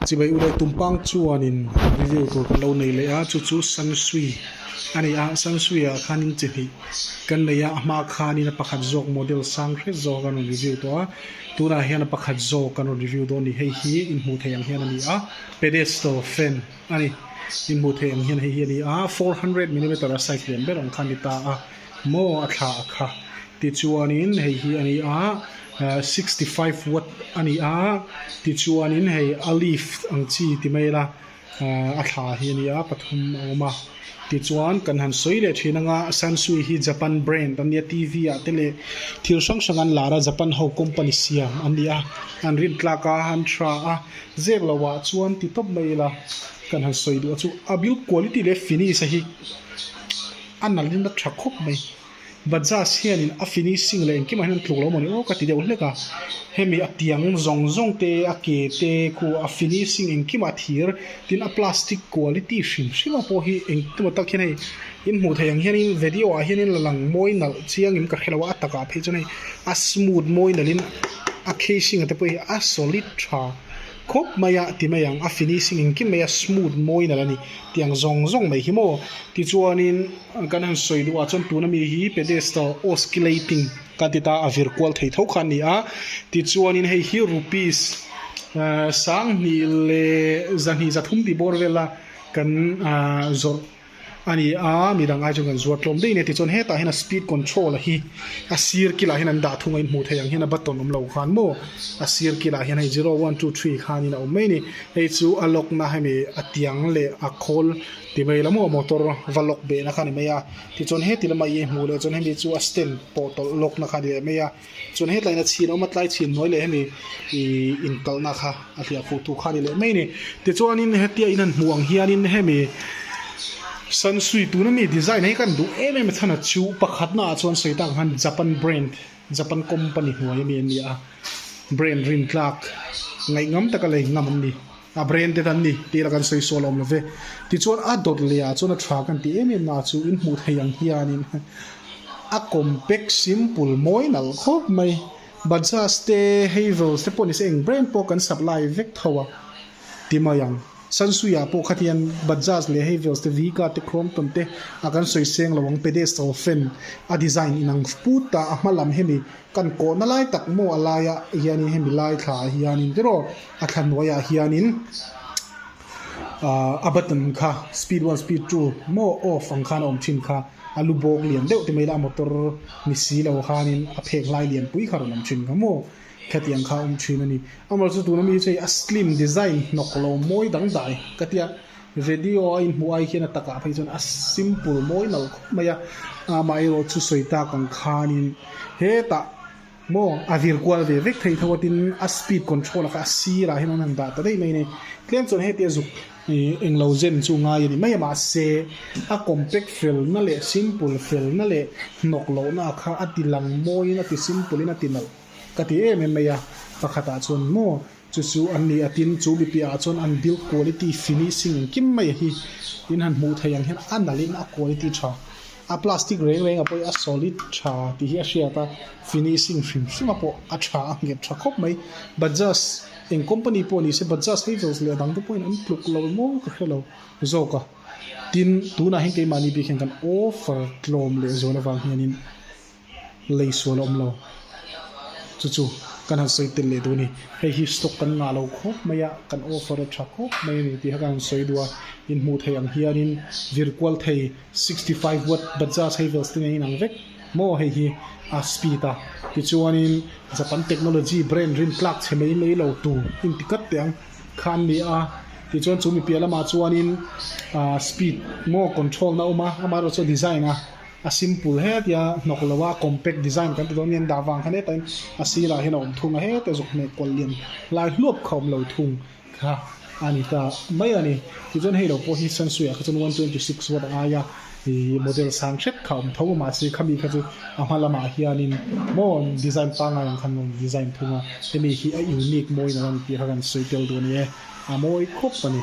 Chimei uleh tumpang chuanin review tur kan lo nei leh a, chu chu San Sui a ni a, San Sui-ah khanin chi hnih kan nei a, a hma khanin a pakhat zawk model sang hret zawk a kan rawn review tawh a, tunah hian a pakhat zawk kan rawn review dawn a ni, hei hi in hmuh theih ang hian a ni a, pedestal fan a ni, in hmuh theih ang hian hei hi a ni a, four hundred millimeter a size lian ber ang kha a ni ta a. Maw a thlah a kha. Tichuanin hei hi a ni a, sixty five watt a ni a, tichuanin hei a leaf ang chi ti mai ila a thla hi a ni a, pathum a awm a. Tichuan kan han sawi leh thin anga Sansui hi Japan brand a nia, TV ah te leh thil hrang hrang an lar a, Japan ho company siam a ni a. An rin tlak a, an tha a, zek lo ah chuan ti tawp mai ila kan han sawi duh a chu. A build quality leh finish a hi A nalin a tha khawp mai. Bajaj hianin a finishing leh engkimah hian a tluk lo mawni aw ka ti deuh hlek a. Hemi a tiang zawng zawng te, a ke te, khu a finishing engkimah thir, tin a plastic quality hrim hrima pawh hi engemaw tak hian hei in hmuh theih ang hianin vedio ah hianin la lang mawi nalh chiang in ka hre lo a, a takah phei chuan hei a smooth mawi nalhin a casing te pawh hi a solid tha. Khawp mai a ti mai ang, a finishing engkim mai a smooth mawi nalh a ni tih ang zawng zawng mai hi maw. Tichuanin kan han sawi duh ah chuan tuna mi hi pedestal oscillating kan ti ta a vir kual thei tho kha an ni a. Tichuanin hei hi rupees sang hnih leh za hnih za thum tih bawr vela kan zawrh. A ni a, mi dang ai chuan kan zuar tlawm daih ania, tichuan hetah hian a speed control a hi a sir kilah hian an dah thung a in hmuh theih ang hian a button awm lo khan maw, a sir kilah hian hei zero one two three khanin a awm mai a ni, hei chu a lock na hemi a tiang leh a khawl ti mai lam aw motor va lock behna kha a ni mai a, tichuan heti lamah i hmuh leh chuan hemi chu a stand pawh tawlh lock na kha a ni leh mai a. Chuan he tlaina chhin a awm a, tlai chhin hnuai leh hemi ih inkalhna kha a hliah fuh thu kha a ni leh mai a ni. Tichuanin hetia in han hmuh ang hianin hemi Sansui tuna mi design hi khan duh em em a chhan a chu pakhatna ah chuan sawi ta ang khan Japan brand, Japan company hnuai ami an ni a, brand rin tlak ngaih ngam taka lei ngam an ni. A brand te kan ni tih ila kan sawi sual awm lo ve. Tichuan a dawt leh ah chuan a tha kan tih em em na chu in hmuh theih ang hianin a compact simple mawi nalh khawp mai. Bajaj te Havells te pawh ni se eng brand pawh kan sap lai vek tho a ti mai ang. Sansui ah pawh kha hian Bajaj leh Havells te Viga te Crompton te a kan sawi seng lo ang pedestal fan a design inang put a a hma lam hemi Kan kawhna lai tak maw a laia hianin hemi lai thlah hianin tiraw a thla hnuaiah hianin a button kha speed one speed two maw off ang khan a awm thin kha a lu bawk lian deuh te mai la a motor ni si lo khanin a phek hlai lian pui kha a rawn awm thin kha maw khati ang kha a awm thin a ni amaherawhchu tuna mi hi chu hei a slim design hnawk lo mawi dang daih ka tia. Vedio a inhmuh ai hian a takah phei chuan a simple mawi nalh khawp mai a, a mah erawh chu sawi tak ang khanin hetah maw a vir kual ve vek thei tho tin a speed control a kha a sirah hian an han dah ta daih mai a ni. Tlem chuan heti a zuk englo zen chu ngai a ni mai a mahse a compact felna leh simple felna leh hnawk lohna a kha a tilang mawiin a ti simple in a ti nalh ka ti em em mai a pakhatah chuan maw Chu chu an ni a tin, chu mi piahah chuan an build quality, finishing engkim mai hi in han hmuh theih ang hian a nalhin a quality tha. A plastic reng renga pawh hi a solid tha tih hi a hriat a, finishing hrim hrima pawh a tha a nghet tha khawp mai. Bajaj eng company pawh ni se Bajaj hei zawk leh dang te pawhin an tluk lo maw ka hre lo zawk a, tin tunah hian keimahni bikhen kan offer tlawm leh zual avang hianin, lei sual a awm lo. Chu chu kan han sawi tel leh dû a ni. Hei hi stock kan ngah lo khawp mai a, kan offer a tha khawp mai a ni tih kha kan han sawi dû a. In hmuh theih ang hianin virkual thei sixty five watt Bajaj Havells ten a inang vek maw hei hi a speed a. Tichuanin Japan technology brand rin tlâk chhe mai mai lo tûr inti kat teh ang kha an ni a. Tichuan chu mi piah lamah chuanin ahh speed maw control-na a awm a, amaherawhchu a design a. A simple hetia hnawk lo a compact design kan ti dawn aniang dah vang khan hetain a sirah hian a awm thung a hetia zawk hmeh kual lian lai hluap kha awm lo thung kha a ni ta mai a ni tichuan hei lo pawh hi sansui ah kha chuan one twenty six watt a aia ihh model sang hret kha a awm tho a mahse khami kha chu a hma lamah hianin maw design pangngai ang khan rawn design thung a hemi hi a unique mawiin alo ni tih kha kan sawi tel dawn a ni e a mawi khawp a ni.